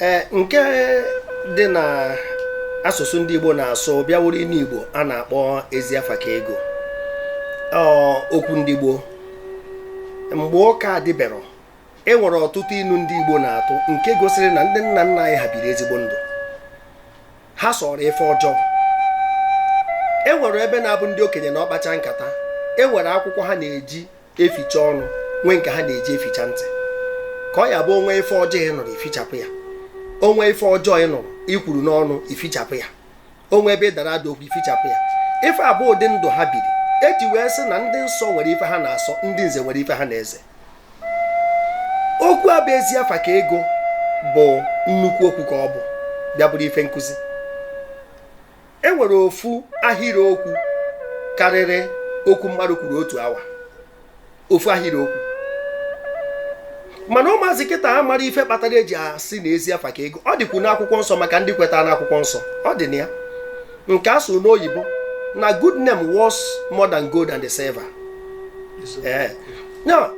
ee nke dị na asụsụ ndị Igbo na-asụ bịa wụrụ inu Igbo a na-akpọ ezi afa ka ego okwu ndị gboo mgbe ụka adịbero e nwere ọtụtụ inu ndị Igbo na-atụ nke gosiri na ndị nna nna anyị ha biri ezigbo ndụ ha sọrọ ife ọjọọ e nwere ebe na-abụ ndị okenye nọọ kpacha nkata e nwere akwụkwọ ha na-eji eficha ọnụ nwee nke ha na-eji eficha ntị ka ọ ya-abụ o nwee ife ọjọọ ị nụrụ i fichapụ ya o nwee ife ọjọọ ị nụrụ i kwuru n'ọnụ i fichapụ ya o nwee ebe ị dara ada okwu i fichapụ ya ife a bụ ụdị ndụ ha biri eji wee sị na ndị nsọ nwere ife ha na-asọ ndị nze nwere ife ha na-eze okwu a bụ ezi afa ka ego bụ nnukwu okwu ka ọ bụ bịa bụrụ ife nkụzi e nwere ofu ahịrịokwu karịrị okwu mmadụ kwuru otu awa ofu ahịrịokwu mana ụmụazị kịta ha amarọ ife kpatara eji asị na ezi afa ka ego ọ dịkwu n'akwụkwọ nsọ maka ndị kwetara n'akwụkwọ nsọ ọ dị na ya nke a sụ n'oyibo na good name was more than gold and silver ee na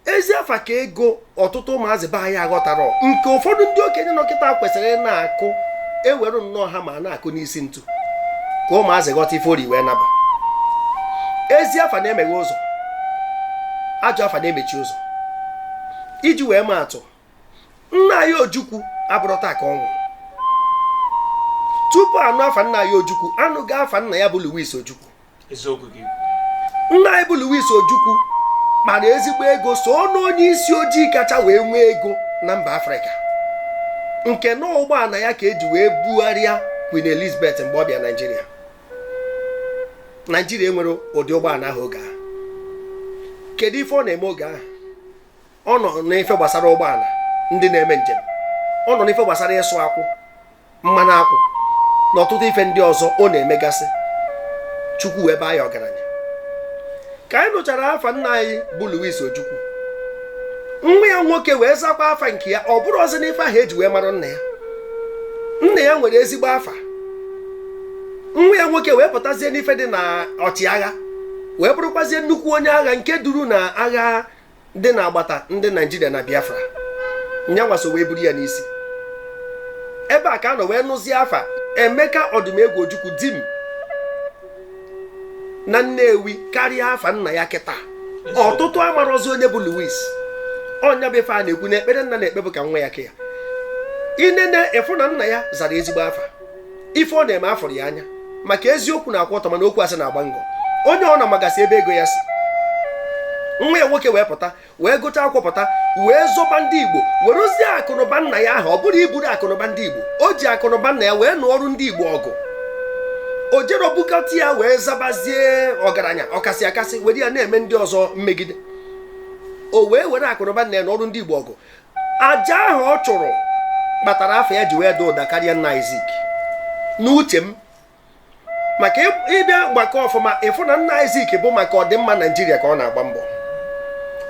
ezi afa ka ego ọtụtụ ụmụazị be anyị aghọtarọ nke ụfọdụ ndị okenye nọ kịta kwesịrị ịna-akụ e were nnọọ hammer na-akụ n'isi ntu ka ụmụazị ghọta ife o ji wee na-abụ ezi afa na-emeghe ụzọ ajọ afa na-emechi ụzọ iji wee maa atụ nna anyị ojukwu abụrọ taa ka ọ nwụrụ tupu a nụ afa nna anyị ojukwu a nụgo afa nna ya bụ Louis ojukwu nna anyị bụ Louis Ojukwu kpara ezigbo ego so n'onye isi ojii kacha wee nwee ego na mba Afrịka nke na ụgbọana ya ka eji wee bugharịa Queen Elizabeth mgbe ọ bịa Naijiria Naijiria enwerọ ụdị ụgbọana ahụ oge ahụ kedu ife ọ na-eme oge ahụ ọ nọ n'ife gbasara ụgbọala ndị na-eme njem ọ nọ n'ife gbasara ịsụ akwụ mmanụ akwụ na ọtụtụ ife ndị ọzọ ọ na-emegasị chukwu wee baa ya ọgaranya ka anyị nụchara afa nna anyị bụ Louis Ojukwu nwa ya nwoke wee zakwa afa nke ya ọ bụrọzị n'ife ahụ eji wee mara nna ya nna ya nwere ezigbo afa nwa ya nwoke wee pụtazie n'ife dị na ọchịagha wee bụrụkwazie nnukwu onye agha nke duru na agha dị n'agbata ndị naijiria na biafra nyanwa so wee buru ya n'isi ebe a ka a nọ wee nụzie afa emeka odumegwu ojukwu dim na nnewi karịa afa nna ya kịta ọtụtụ amarọzị onye bụ louis ọ nya bụ ife a na-ekwu na ekpere nna na-ekpe bụ ka nwa ya kaa ya i nene ị fụ na nna ya zara ezigbo afa ife ọ na-eme afọrọ ya anya maka eziokwu na-akwụ ọtọ mana okwu asị na-agba ngọ onye ọ na-amagasị ebe ego ya si nwa ya nwoke wee pụta wee gụchaa akwụkwọ pụta wee zọba ndị igbo werezie akụnụba nna ya ahụ ọ bụrọ iburu akụnụba ndị igbo o ji akụnụba nna ya wee nụọrụ ndị igbo ọgụ o jerọ bukata ya wee zabazie ọgaranya ọkasị akasị were ya na-eme ndị ọzọ mmegide o wee were akụnụba nna ya nụọrụ ndị igbo ọgụ aja ahụ ọ chụrụ kpatara afa ya ji wee daa ụda karịa nna anyị Zik n'uche m maka ị bịa gbakọọ ọfụma ị fụ na nna anyị Zik bụ maka ọdịmma Naijiria ka ọ na-agba mbọ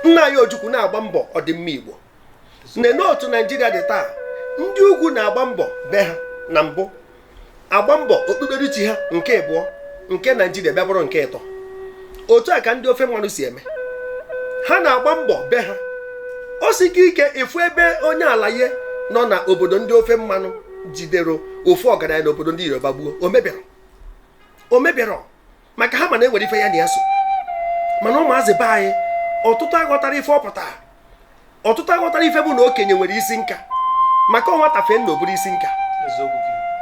nna anyị Ojukwu na-agba mbọ ọdịmma Igbo nene otu Naijiria dị taa ndị ugwu na-agba mbọ be ha na mbụ agba mbọ okpukperechi ha nke ịbụọ nke naijiria bịa bụrụ nke ịtọ otu a ka ndị ofe mmanụ si eme ha na-agba mbọ be ha o siri ike ịfụ ebe onye alaye nọ na obodo ndị ofe mmanụ jidere ofu ọgaranya na obodo ndị yoruba gbuo o meberọ o meberọ maka ha ma na e nwere ife ya na ya so mana ụmụazị be anyị ọtụtụ aghọtarọ ife ọ pụtara ọtụtụ aghọtarọ ife bụ na okenye nwere isi nka maka nwata fee nna o buru isi nka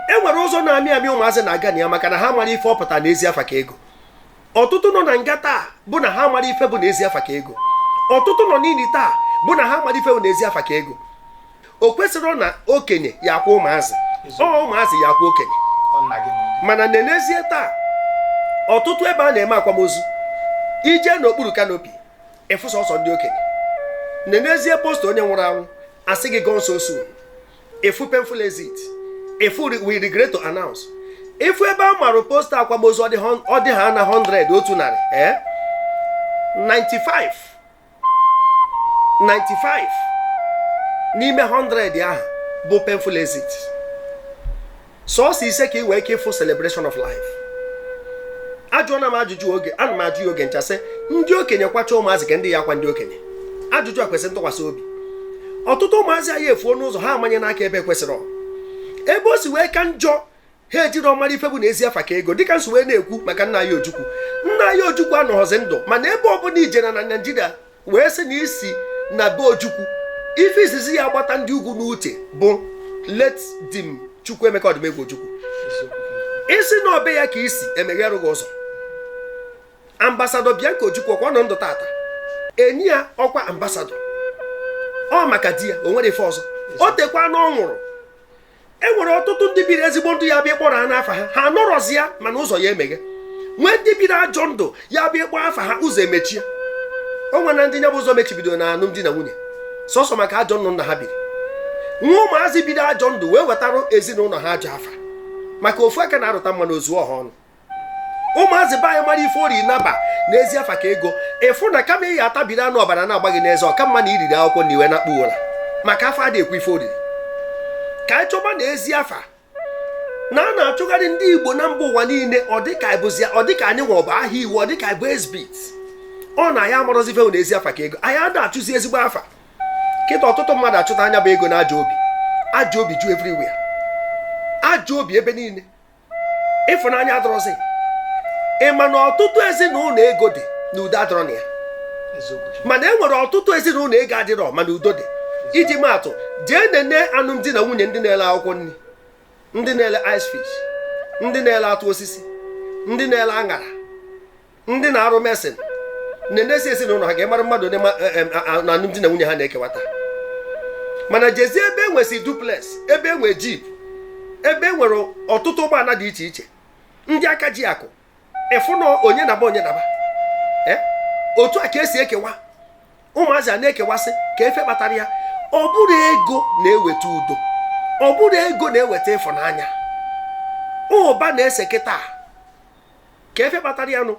e nwere ụzọ na-amị amị ụmụazị na-aga na ya maka na ha amarọ ife ọ pụtara na ezi afa ka ego ọtụtụ nọ na nga taa bụ na ha amarọ ife bụ na ezi afa ka ego ọtụtụ nọ n'ini taa bụ na ha amarọ ife bụ na ezi afa ka ego o kwesịrọ na okenye ya-akwa ụmụazị ọ ụmụazị ya-akwa okenye mana nenezie taa ọtụtụ ebe a na-eme akwamozu i je n'okpuru kanopi ị fụ sọsọ ndị okenye nenezie posta onye nwụrụ anwụ a sị gị gone so soon ị fụ painful exit ị fụ we regret to announce ị fụ ebe a marụ posta akwamozu ọ dị ha na 100 otu narị ee eh? 95 95 n'ime 100 ahụ bụ painful exit sọọsọ ise ka ị nwee ike ịfụ celebration of life ajụọna m ajụjụ oge ana m ajụ ya oge ncha sị ndị okenye kwacha ụmụazị kee ndị ya-akwa ndị okenye ajụjụ a kwesịrị ntụkwasị obi ọtụtụ ụmụazị anyị efuo n'ụzọ ha amanyena aka ebe ekwesịrọ ebe o si wee ka njọ ha ejirọ mara ife bụ na ezi afa ka ego dịka m si wee na-ekwu maka nna anyị ojukwu nna anyị ojukwu anọghọzi ndụ mana ebe ọbụla i jere na naijiria wee sị na i si na be ojukwu ife izizi ya-agbata ndị ugwu n'uche bụ late dim chukwuemeka odumegwu ojukwu ị sị na ọ be ya ka i si e meghere gị ụzọ ambasadọ bianca ojukwu ọkwa nọ ndụ tata e nye ya ọkwa ambasadọ ọ maka di ya o nwere ife ọzọ o tekwaana ọ nwụrụ e nwere ọtụtụ ndị biri ezigbo ndụ ya bụ ị kpọrọ ha n'afa ha ha anọrọzi ya mana ụzọ ya emeghe nwee ndị biri ajọ ndụ ya bụ ị kpọọ afa ha ụzọ emechie o nwere na ndị nya bụ ụzọ mechibido na alụmdi na nwunye sọsọ maka ajọ ndụ nna ha biri nwee ụmụazị biri ajọ ndụ wee wetara ezinụlọ ha ajọ afa maka ofu aka na-arụta mmanụ o zuo ọha ọnụ ụmụazị be anyị mara ife ori naba na ezi afa ka ego ị fụ na kama ị ya atabiri anụ ọbara na-agba gị n'eze ọ ka mma na i riri akwụkwọ nri wee nakpuo ụra maka afọ adị ekwu ife o riri ka anyị chọba na ezi afa na a na-achụgharị ndị igbo na mba ụwa niile ọ dịka ịbụzi ọ dịka anyị nwe ọbụ ahịa iwu ọ dịka ị bụ exhibit ọ na anyị amarọzi ife na ezi afa ka ego anyị ada achụzi ezigbo afa kịta ọtụtụ mmadụ achụta nya bụ ego na ajọ obi ajọ obi ju everywhere ajọ obi ebe niile ịfụnanya adịrọzi ị ma na ọtụtụ ezinụlọ ego dị na udo adịrọ na ya mana e nwere ọtụtụ ezinụlọ ego adịrọ mana udo dị iji maatụ jee nene alụmdi na nwunye ndị na-ele akwụkwọ nri ndị na-ele ice fish ndị na-ele atụ osisi ndị na-ele aṅara ndị na-arụ mesin nenesie ezinụlọ ha ga-emara mmadụ onye ma- eh, eh, ah, ah, na alụmdi na nwunye ha na-ekewata mana jezie ebe e nwesị duplex ebe e nwe jeep ebe e nwere ọtụtụ ụgbọala dị iche iche ndị aka ji akụ ị fụ na onye naba onye naba Eh? otu a ka e si ekewa ụmụazị a na-ekewasị kee ife kpatara ya ọ bụrọ ego na-eweta udo ọ bụrọ ego na-eweta ịfụnanya ụba na-ese kịta kee ife kpatara ya nụ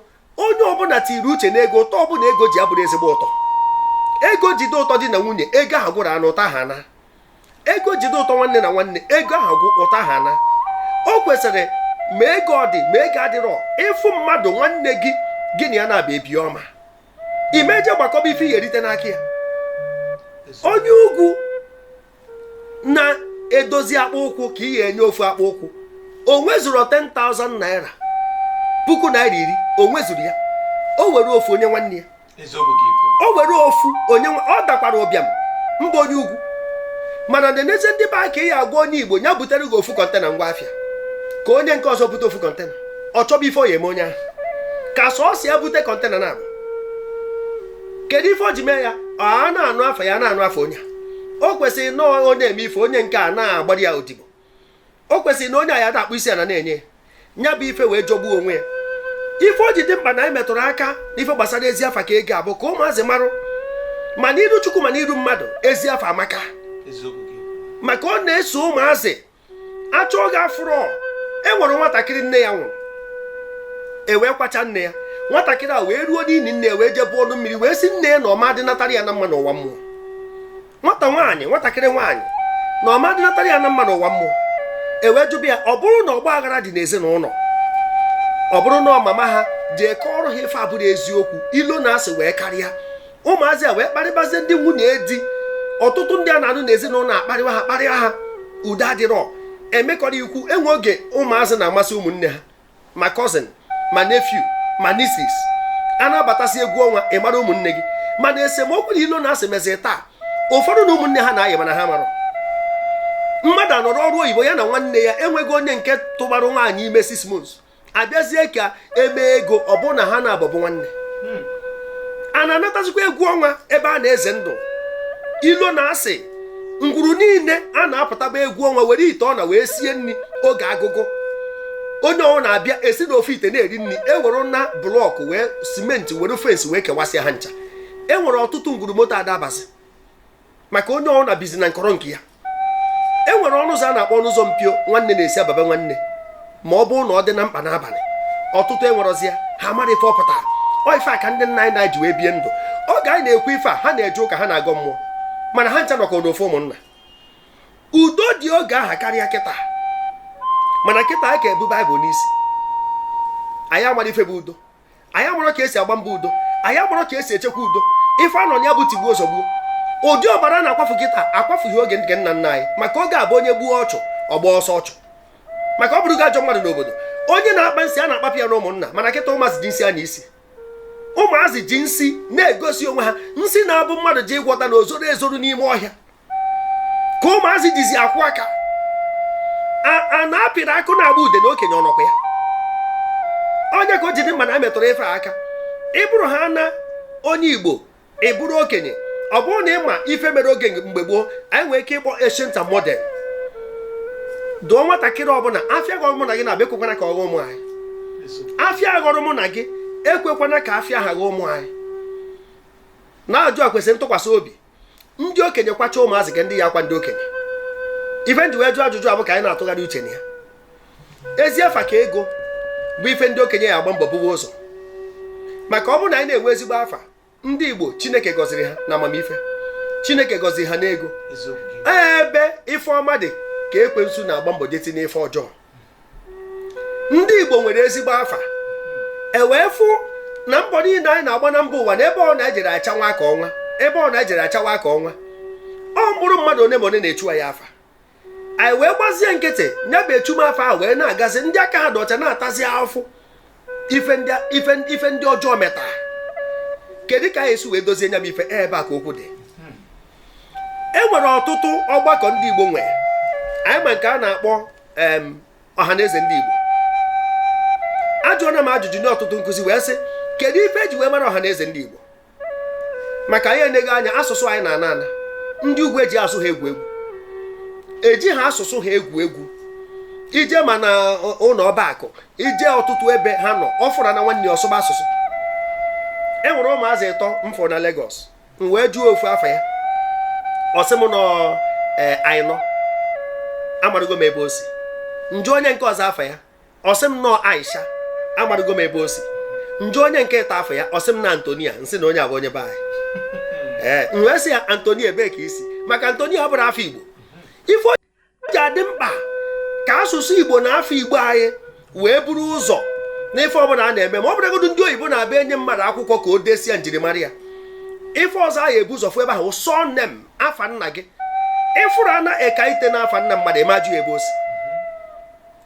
onye ọbụla tiri uche na ego ụtọ ọbụla ego ji abụrọ ezigbo ụtọ ego jide ụtọ di na nwunye ego ahụ gwụrụ nụ ụtọ ahụ anaa ego jide ụtọ nwanne na nwanne ego ahụ gwụ ụtọ ahụ anaa o kwesịrị ma ego ọ dị ma ego adịrọ ị fụ mmadụ nwanne gị gị na ya na-abịa bie ọma ị ma eje gbakọba ife ị ya erite n'aka ya onye ugwu na-edozi akpụ ụkwụ ka ị ga-enye ofu akpụ ụkwụ o nwezuru 10,000 naira puku naira iri o nwezuru ya o were ofu onye nwanne ya eziokwu ka i kwu o were ofu onye nwa- ọ dakwara ụbịam mba onye ugwu mana nenezie ndị be anyị ka ị ya agwa onye igbo ya butere gị ofu kọntena ngwa afịa ka onye nke ọzọ bute ofu kọntena ọ chọba ife ọ ya eme onye ahụ ka sọọsọ ya bute kọntena naabọ kedu ife o ji mee ya a na-anụ afa ya a na-anụ afa onye a o kwesịrị na onye eme ife onye nke a na-agbara ya odibo o kwesịrị na onye a ya na-akpọ isi ala na-enye ya bụ ife wee jọgbuo onwe ya ife o ji dị mkpa na anyị metụrụ aka n'ife gbasara ezi afa ka ego bụ ka ụmụazị marụ ma n'iru chukwu ma n'iru mmadụ ezi afa amaka maka ọ na-eso ụmụazị achọ oge afụrọ e nwere nwatakịrị nne ya nwụrụ ewee kwacha nne ya nwatakịrị a wee ruo n'ini nne ya wee jebe ọnụ mmiri wee si nne ya na ọ ma adịnatara ya na mma n'ụwa mmụọ nwata nwaanyị nwatakịrị nwaanyị na ọ ma adịnatara ya na mma n'ụwa mmụọ ewee jụba ya ọ bụrụ na ọgba aghara dị n'ezinụnọ ọ bụrụ na mama ha jee kọọrọ ha ife abụrọ eziokwu ilo na asị wee karịa ụmụazị a wee kparịbazie ndị nwunye di ọtụtụ ndị a na-anụ n'ezinụnọ akparịwa ha kparịa ha udo adịrọ emekọrọ ikwu e nwee oge ụmụazị na-amasị ụmụnne ha ma cousin ma nephew ma nieces a na-abatasị egwu ọnwa ị mara ụmụnne gị mana esemokwu na ilo na asị mezi taa ụfọdụ na ụmụnne ha na-ayị mana ha amarọ mmadụ anọrọ ọrụ oyibo ya na nwanne ya enweghị onye nke tụbara nwaanyị ime six months abịazie ka e mee ego ọ bụrụ na ha naabọ bụ nwanne hmm. a na-anatazikwa egwu ọnwa ebe a na-eze ndụ ilo na asị ngwuru niile a na-apụtaba egwu ọnwa were ite ọna wee sie nni oge agụgụ onye ọbụna abịa esi n'ofu ite na-eri nni ewerena blọkụ were simenti were fensị wee kewasịa ha ncha enwere ọtụtụ ngwuru moto ada abazi maka onye ọbụna bizi na nkọrọ nke ya e nwere ọnụ ụzọ a na-akpọ ọnụ ụzọ mpio nwanne na-esi aba be nwanne ma ọ bụrụ na ọ dị na mkpa n'abalị ọtụtụ enwerọzi ya ha mara ife ọ pụtara ọ ife a ka ndị nna anyị na ji wee bie ndụ oge anyị na-ekwu ife a ha na-eje ụka ha na-agọ mmụọ mana ha ncha nọkọ n'ofu ụmụnna udo dị oge aha karịa kịta mana kịta anyị ka bu baịbụl n'isi anyị amarọ ife bụ udo anyị aghọrọ ka esi agba mbọ udo anyị aghọrọ ka esi echekwa udo ife a nọ na ya bụ tigbuo zọgbuo ụdị ọbara a na-akwafu kịta akwafughị oge nke nna nna anyị maka oge abụ onye gbuo ọchụ ọ gbaa ọsọ ọchụ maka ọ bụrụ gị ajọ mmadụ n'obodo onye na-akpa nsị a na-akpapụ ya na ụmụnna mana kịta ụmụazị ji nsị anya isi ụmụazị ji nsị na-egosi onwe ha nsị na-abụ mmadụ ji ịgwọta na ozoro ezoro n'ime ọhịa ka ụmụazị jizi akwụ aka a na-apịrị akụ na-agba ude na okenye ọnọkwa ya onye ka o ji dị mma na emetụrụ ife aka ị bụrụ ha na onye igbo ị bụrụ okenye ọ bụrụ na ị ma ife mere oge mgbe gboo anyị nwere ike ịkpọ ancient and modern dụọ nwatakịrị ọbụla afịa ghọrọ mụ na gị na-abịa ekwekwana ka ọ ghọọ ụmụ anyị afịa ghọrọ mụ na gị ekwekwana ka afịa a ghọọ ụmụ anyị na-ajụ a kwesịrị ntụkwasị obi ndị okenye kwacha ụmụazị kee ndị ya-akwa ndị okenye ife m ji wee jụọ ajụjụ a bụ ka anyị na-atụgharị uche na ya ezi afa ka ego bụ ife ndị okenye ya-agba mbọ bube ụzọ maka ọ bụrụ na anyị na-enwe ezigbo afa ndị igbo chineke gọziri ha na amamife chineke gọziri ha n'ego ebe ife ọma dị ka ekwensu na-agba mbọ jee tinye ife ọjọọ ndị Igbo nwere ezigbo afa e wee fụ na mbọ niile anyị na-agba na mba ụwa na ebe ọ na-ejere achawa ka ọnwa ebe ọ na-ejere achawa ka ọnwa ọ mkpụrụ mmadụ one ma one na-echu anyị afa anyị wee gbazie nkịtị nya bụ echumafa ahụ wee na-agazi ndị aka ha dị ọcha na-atazi afụfụ ife ndị ọjọọ metara kedu ka anyị ya-esi wee dozie nya bụ ife ebe a ka okwu dị e nwere ọtụtụ ọgbakọ ndị Igbo nwere anyị ma nke a na-akpọ ọha na eze ndị Igbo ajụọna m ajụjụ n'ọtụtụ nkụzi wee sị kedu ife e ji wee mara ọha na eze ndị Igbo maka anyị eneghị anya asụsụ anyị na-ana ana ndị ugwu eji asụ ha egwu egwu eji ha asụsụ ha egwu egwu i jee ma na ụlọ ọba akụ i jee ọtụtụ ebe ha nọ ọ fụrụna nwanne ọ sụba asụsụ e nwere ụmụazị ịtọ m fụ na Lagos m wee jụọ ofu afa ya ọ sị m na ọ ee eh, Aina amarụgo m ebe o si m jụọ onye nke ọzọ afa ya ọ sị m na ọ Aisha amarụgo m ebe o si m jụọ onye nke ịtọ afa ya ọ sị m na Antonia m sị na onye a bụ onye be anyị ee m wee sị ya Antonia ebee ka i si maka Antonia abụrọ afa Igbo ife o ji adị mkpa ka asụsụ Igbo na afa Igbo anyị wee buru ụzọ n'ife ọbụla a na-eme ma ọ bụrụgodu ndị oyibo na-abịa enye mmadụ akwụkwọ ka o desie njirimara ya ife ọzọ anyị ebu ụzọ fụ ebe ahụ surname afa nna gị ị fụrụna Ekaite na afa nna mmadụ ị ma ajụ ya ebe o si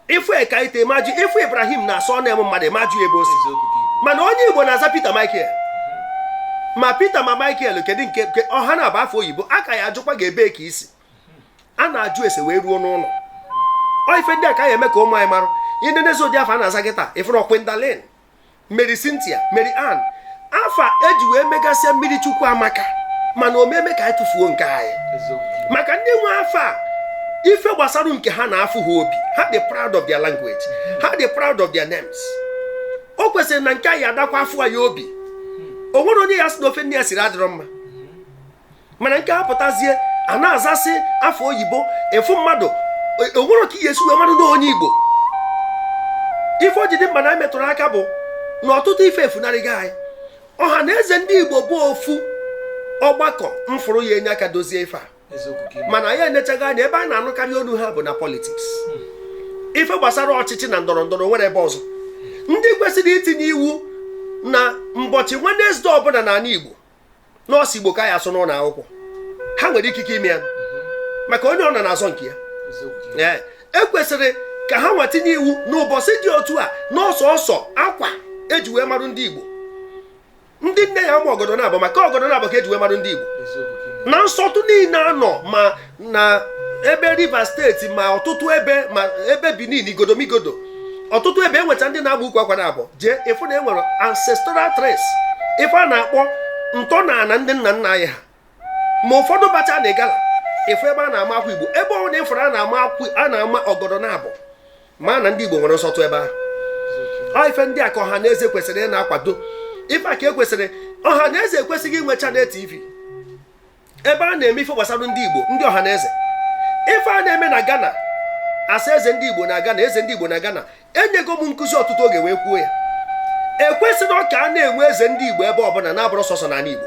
ị fụ Ekaite ị ma ajụ ị fụ Ibrahim na surname mmadụ ị ma ajụ ebe o si mana onye Igbo na-aza Peter Michael ma Peter ma Michael kedu nke ọ ha naabọ afa oyibo a ka ya-ajụkwa gị ebee ka i si a na-ajụ ese wee ruo n'ụlọ ọ ife ndị a ka a ya-eme ka ụmụ anyị marụ i nenezie ụdị afa a na-aza kịtaa ị fụrụ Gwendolyn Mary Cynthia Mary Ann afa e ji wee megasịa mmiri chukwu amaka mana ọ ma eme ka anyị tụfuo nke anyị maka ndị nwe afa a ife gbasara nke ha na-afụ ha obi ha dị proud of their language ha dị proud of their names o kwesịrị na nke anyị adakwa afụ anyị obi o nwere onye ya-asị na ofe nne ya siri adịrọ mma mana nke a pụtazie a na-azasị afa oyibo ị fụ mmadụ e, o nwerọ ka ị ya-esi wee marụ na ọ onye Igbo ife o ji dị mkpa na e metụrụ aka bụ na ọtụtụ ife efunarịgo anyị ọha na eze ndị Igbo bụ ofu ọgbakọ m fụrụ ya-enye aka dozie ife a mana anyị enechaghị anya ebe a na-anụkarị olu ha bụ na politiks hmm. ife gbasara ọchịchị na ndọrọ ndọrọ nwere ebe ọzọ ndị kwesịrị itinye iwu na mbọchị Wenezdee ọbụla n'ala Igbo na ọ sọ Igbo ka a ya-asụ n'ụlọ akwụkwọ ha nwere ikike ime ya maka onye ọbụna na-azọ nke ya e kwesịrị ka ha nwa tinye iwu na ụbọchị dị otu a na ọ sọọsọ akwa e ji wee marụ ndị Igbo ndị nne ya-ama ọgọdọ naabọ maka ọgọdọ naabọ ka e ji wee marụ ndị Igbo na nsọtụ niile anọ ma na ebe Rivers steeti ma ọtụtụ ebe ma ebe Benin igodomigodo ọtụtụ ebe enwecha ndị na-agba ukwu akwa na abụọ jee ịfụ na enwere ancestral trace ife a na-akpọ ntọ na ana ndị nna nna anyị ha ma ụfọdụ bacha na Igala ịfụ ebe a na-ama akwa igbo ebe ọbụla ịfụrụ a na-ama akwa a na-ama ọgọdọ na abụọ ma na ndị igbo nwere nsọtụ ebe ahụ ife ndị a ka ọha na eze kwesịrị ịna-akwado ife a ka ekwesịrị ọha na eze kwesịrị inwe channel tv ebe a na-eme ife gbasara ndị igbo ndị ọha na eze ife a na-eme na ghana asa eze ndị igbo na ghana eze ndị igbo na ghana enyego m nkụzi ọtụtụ oge wee kwuo ya ekwesịrọ ka a na-enwe eze ndị igbo ebe ọbụna na-abụrọ sọsọ n'ani igbo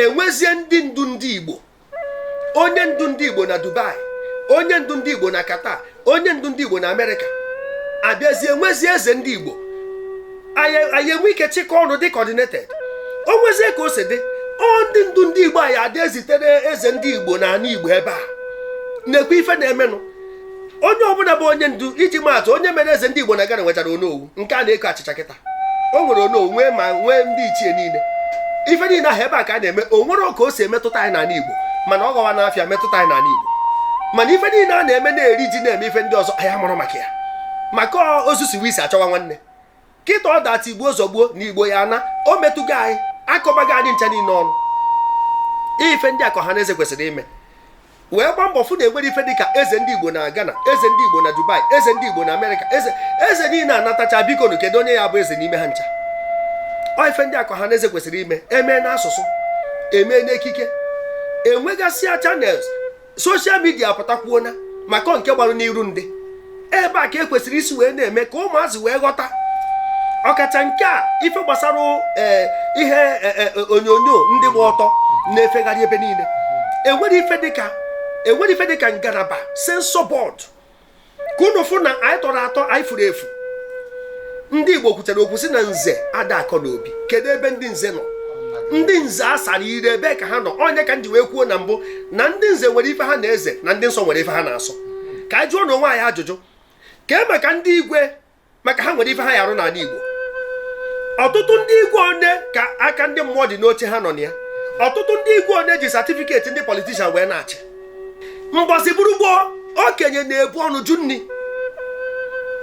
enwezie ndị ndu ndị igbo onye ndu ndị igbo na dubai onye ndu ndị igbo na qatar onye ndu ndị igbo na amerịka abịazie nwezie eze ndị igbo anyị enwe ike chịkọ ọnụ dị coordinated o nwezie ka o si dị ọ ndị ndu ndị igbo a ya adị ezitere eze ndị igbo na ana igbo ebe ha na-ekwu ife na-emenụ onye ọbụna bụ onye ndu iji maa atụ onye mere eze ndị igbo na ghana nwechara onowu nke a na-eko achịcha kịta o nwere onowu nwee ndị ichie niile ife niile ahụ ebe a ka a na-eme o nwerọ ka o si emetụta anyị n'ala Igbo mana ọ gọwa n'afịa metụta anyị n'ala Igbo mana ife niile a na-eme na-eri ji na-eme ife ndị ọzọ anyị amarọ maka ya maka ozu siwe isi a chọwa nwanne kịta ọ data igbo zọgbuo na igbo ya na o metụgo anyị akọbago anyị ncha niile ọnụ ife ndị a ka ọha na eze kwesịrị ime wee gba mbọ fụ na enwerọ ife dịka eze ndị igbo na ghana eze ndị igbo na dubai eze ndị igbo na amerịka eze niile a natacha bikonụ kedu onye ya bụ eze n'ime ha ncha ọ ife ndị a ka ọha na eze kwesịrị ime emee n'asụsụ emee n'ekike enwegasịa channels social media apụtakwuona maka nke gbarụ n'iru ndị ebe a ka ekwesịrị isi wee na-eme ka ụmụazị wee ghọta ọkacha nke a ife gbasara eh, ihe eh, eh, onyonyo ndị gba ọtọ na-efegharị ebe niile enwerọ ife dịka ngalaba censor board ka unu fụ na anyị tọrọ atọ anyị furu efu ndị Igbo kwuchara okwu si na nze ada akọ n'obi kedu ebe ndị nze nọ ndị nze a sara ire ebe ka ha nọ ọ nya ka m ji wee kwuo na mbụ na ndị nze nwere ife ha na-eze na ndị nsọ nwere ife ha na-asọ ka anyị jụọnụ onwe anyị ajụjụ kee maka ndị igwe maka ha nwere ife ha ya arụ n'ani Igbo ọtụtụ ndị igwe one ka aka ndị mmụọ dị n'oche ha nọ na ya ọtụtụ ndị igwe one ji satifiketi ndị politician wee na-achị mbọsị bụrụ gboo okenye na-ebu ọnụ jụ nni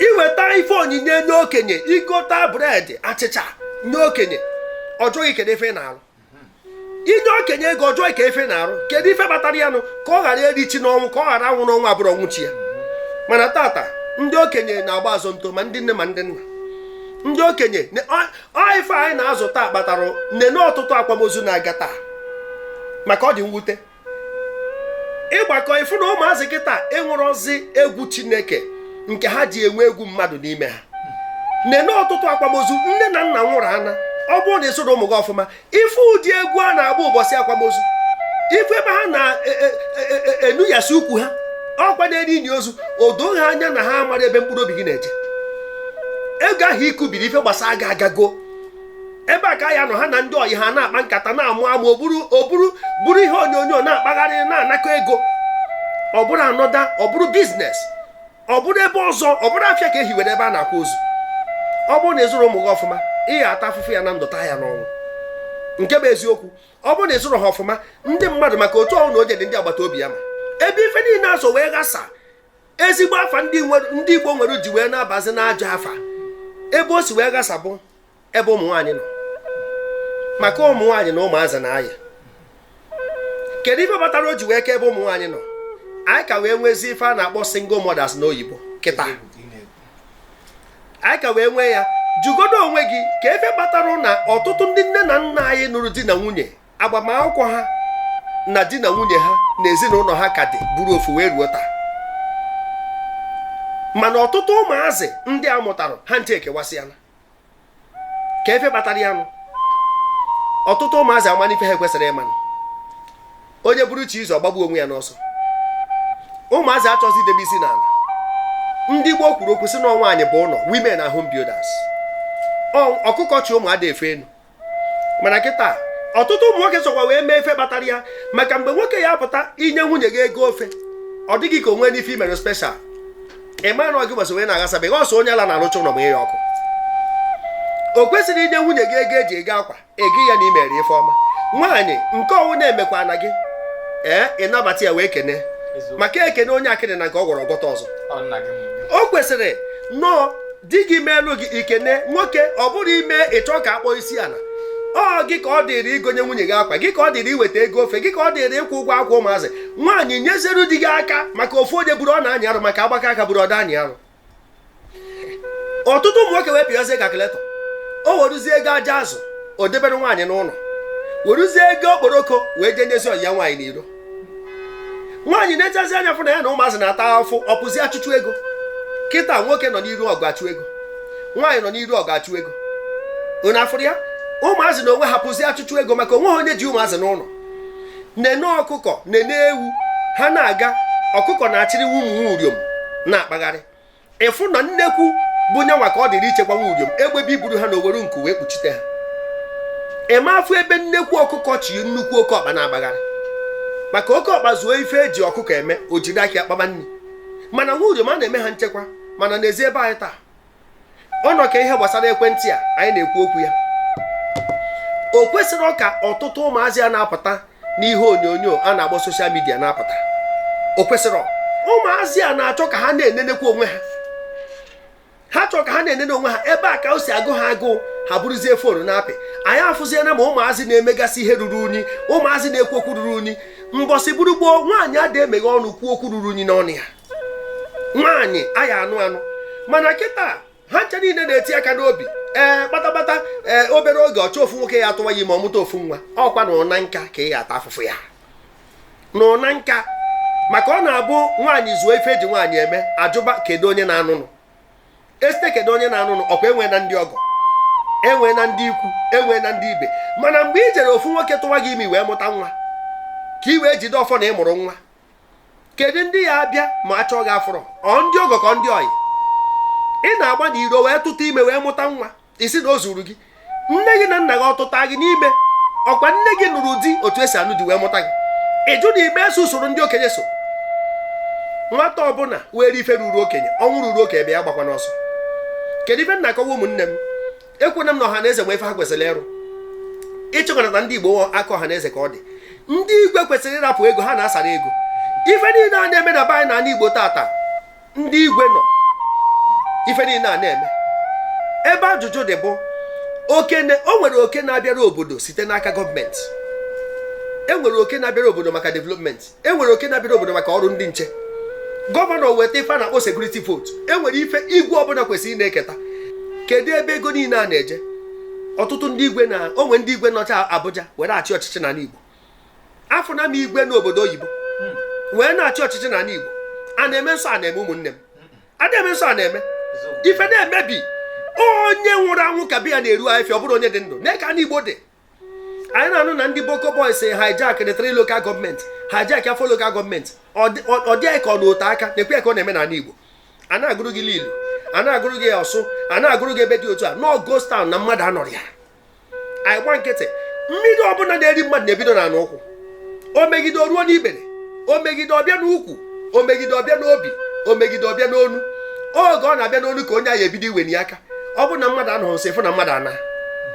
iweta ife onyinye nye okenye igota bread achịcha nye okenye ọ jụọ gị kedu ife ị na-alụ inye okenye ego ọ jụọ gị kee ife ị na-arụ kedu ife kpatara ya nụ ka ọ ghara eri chi n'ọnwụ ka ọ ghara anwụ n'ọnwụ abụrọ ọnwụ chi ya mana tata ndị okenye na-agba azonto ma ndị nne ma ndị nna ndị okenye ife anyị na-azụ taa kpatara nene ọtụtụ akwamozu na-aga taa maka ọ dị mwute ị gbakọ ị fụ na ụmụazị kịta enwerọzi egwu chineke nke ha ji enwe egwu mmadụ n'ime ha nene ọtụtụ akwamozu nne na nna nwụrụ ana ọ bụrụ na ị zụrọ ụmụ gị ọfụma ị fụ ụdị egwu a na-agba ụbọchị akwamozu ị fụ ebe ha na-enuyasị e, e, e, ukwu ha ọkwa na-eri ini ozu o doo ha anya na ha mara ebe mkpụrụ obi gị na-eje oge ahụ i kubiri ife gbasara gị agago ebe a ka ya nọ ha na ndị ọyị ha na-akpa nkata na-amụ amụ o buru o buru buru ihe onyonyo na-akpagharị na-anakọ ego ọ bụrụ another ọ bụrụ business ọ bụrụ ebe ọzọ ọ bụrụ afịa ka e hiwere ebe a na-akwa ozu ọ bụrụ na ị zụrọ ụmụ gị ọfụma ị ya-ata afụfụ ya na ndụ taa ya n'ọnwụ nke bụ eziokwu ọ bụrụ na ị zụrọ ha ọfụma ndị mmadụ maka otu ọ bụna onye dị ndị agbata obi ya ma ebe ife niile a si wee ghasa ezigbo afa ndị igbo nwere ji wee na-abazi n'ajọ afa ebe o si wee ghasa bụ ebe ụmụ nwaanyị nọ maka ụmụ nwaanyị na ụmụazị na-aya kedu ife kpatara o ji wee ka ebe ụmụ nwaanyị nọ anyị ka wee nwezi ife a na-akpọ single mothers n'oyibo kịta anyị ka wee nwee ya jụgodo onwe gị kee ife kpatara na ọtụtụ ndị nne na nna anyị nụrụ di na nwunye agbamakwụkwọ ha na di na nwunye ha na ezinụlọ ha ka dị bụrụ ofu wee ruo taa mana ọtụtụ ụmụazị ndị a mụtara ha ncha ekewasịala kee ife kpatara ya nụ ọtụtụ ụmụazị amana ife ha ekwesịrọ ịma nụ onye buru chi ya ụzọ ọ gbagbuo onwe ya n'ọsọ ụmụazị achọzi idebe isi n'ala ndị gboo kwuru okwu sị na nwaanyị bụ ụlọ women are home builders ọkụkọ chị ụmụ ada efe enu mana kịta ọtụtụ ụmụ nwoke sokwa wee mee ife kpatara ya maka mgbe nwoke ya-apụta i nye nwunye gị ego ofe ọ dị gị ka o nwena ife i mere special ị mara na ọ gị gbasa wee na-aghasa be gị ọ sọ onye ala na-arụcha ụlọ ma ya ọkụ o kwesịrị i nye nwunye gị ego e ji ego akwa ego ya na i mere ife ọma nwaanyị nke ọ bụna emekwa na gị ee ị nabata ya wee kene maka e kene onye akịdị na nke ọ gwọrọ ọ gwọta ọzọ o kwesịrị nnọọ di gị meelu gị i kene nwoke ọ bụrọ i mee ị chọ ka a kpọọ isi ala ọ gị ka ọ dịrị igonye nwunye gị akwa gị ka ọ dịrị iweta ego ofe gị ka ọ dịrị ịkwụ ụgwọ akwụkwọ ụmụazị nwaanyị nyeziru di gị aka maka ofu onye buru ọ na-anyị arụ maka a gbakọọ aka buru ọ da-anyị arụ ọtụtụ ụmụ nwoke wee pịazie calculator o weruzie ego aja azụ o debere nwaanyị n'ụlọ weruzie ego okporoko wee jee nyezi ọyị ya nwaanyị n'iro nwaanyị na-echazi anya fụ na ya na ụmụazị na-ata afụfụ ọ pụzi achụchụ ego kịta nwoke nọ n'iru ọgụ achụ ego nwaanyị nọ n'iru ọgụ achụ ego unu afụrụ ya ụmụazị n'onwe ha pụzi achụchụ ego maka onwe ha onye ji ụmụazị n'ụlọ nene ọkụkọ nene ewu ha na-aga ọkụkọ na-achịrị ụmụ uriom na-akpagharị ịfụ na nnekwu bụ nya nwa ka ọ dịrị ichekwa nwa uriom egbe bịa iburu ha na o were nku wee kpuchite ha ị ma afụ ebe nnekwu ọkụkọ chị nnukwu oke ọkpa na-agbagharị maka oke ọkpa zuo ife eji ọkụkọ eme o jiri aka ya kpaba nri mana nwa uriom a na-eme ha nchekwa mana n'ezi be anyị taa ọ nọ ka ihe gbasara ekwentị a anyị na-ekwu okwu ya o kwesịrị ka ọtụtụ ụmụazị a na-apụta n'ihe onyonyo a na-agba soshal midia na-apụta o kwesịrị ụmụazị a na-achọ ka ha na-enenekwa onwe ha ha chọrọ ka ha na-enene onwe ha ebe a ka o si agụ ha agụụ ha bụrụzie fon na-apị anyị afụziela ma ụmụazị na-emegasị ihe ruru unyi ụmụazị na-ekwu okwu ruru unyi mbọsị bụrụ gboo nwaanyị adị emeghe ọnụ kwuo okwu ruru unyi n'ọnụ ya nwaanyị a ya-anụ anụ mana kịta ha ncha niile na-eti aka n'obi ee kpatakpata ee obere oge ọ chọọ ofu nwoke ya-atụwa ya ime ọ mụta ofu nwa ọkwa na ụna nka ka ị ya-ata afụfụ ya na ụna nka maka ọ na-abụ nwaanyị zuo ife eji nwaanyị eme a jụba kedu onye na-anụnụ esite kedu onye na-anụnụ ọkwa e nweena ndị ọgọ e nweena ndị ikwu e nweena ndị ibe mana mgbe i jere ofu nwoke tụwa gị ime wee mụta nwa ka i wee jide ọfọ na ị mụrụ nwa kedu ndị ya-abịa ma a chọọ gị a fụrọ ọ ndị ọgọ ka ọ ndị ọyị ị na-agba n'iro wee tụta ime wee mụta nwa ị sị na o zuru gị nne gị na nna gị ọ tụta gị n'ime ọkwa nne gị nụrụ di otu esi anụ di wee mụta gị ị jụ na ị ma eso usoro ndị okenye so nwata ọbụla were ife ruru okenye ọnwụ ruru okenye bịa ya agbakwana ọsọ kedu ife m na-akọwa ụmụnne m ekwena m na Ọhanaeze nwe ife ha kwesịrị ịrụ ịchịkọnata ndị igbo aka Ọhanaeze ka ọ dị ndị igwe kwesịrị ịrapụ ego ha na-asara ego ife niile a na-eme na be anyị n'ala igbo tata ndị igwe nọ ife niile a na-eme ebe ajụjụ dị bụ o nwere oke na-abịara obodo site n'aka gọọmenti e nwere oke na-abịara obodo maka development e nwere oke na-abịara obodo maka ọrụ ndị nche gọvanọ weta ife a na-akpọ sekuriti votu e nwere ife igwe ọbụla kwesịrị na-eketa kedu ebe ego niile a na-eje ọtụtụ ndị igwe na o nwe ndị igwe nọcha Abuja were achị ọchịchị n'ala Igbo afụna m igwe nọ obodo oyibo wee na-achị ọchịchị n'ala Igbo a na-eme nsọ a na-eme ụmụnne m a na-eme nsọ a na-eme ife na-emebi onye nwụrụ anwụ ka be ya na-eru afịfịa ọ bụrọ onye dị ndụ nee ka ala Igbo dị anyị na-anụ na ndị boko boys hijacked three local gọọmenti hijack four local gọọmenti ọ dị anyị ka ọ nọ ote aka nekwe ya ka ọ na-eme n'ala Igbo a na-agụrụ gị Lilu a na-agụrụ gị Ọsụ a na-agụrụ gị ebe dị otu a na ọ ghost town na mmadụ anọrọ ya anyị gba nkịtị mmiri ọbụla na-eri mmadụ na-ebido n'ọnụ ụkwụ o megide o ruo n'ikpere o megide ọ bịa n'ukwu o megide ọ bịa n'obi o megide ọ bịa n'onu oge ọ na-abịa n'onu ka onye ahụ ebido iweni aka ọ bụrụ na mmadụ anọghị nso ị fụ na mmadụ ana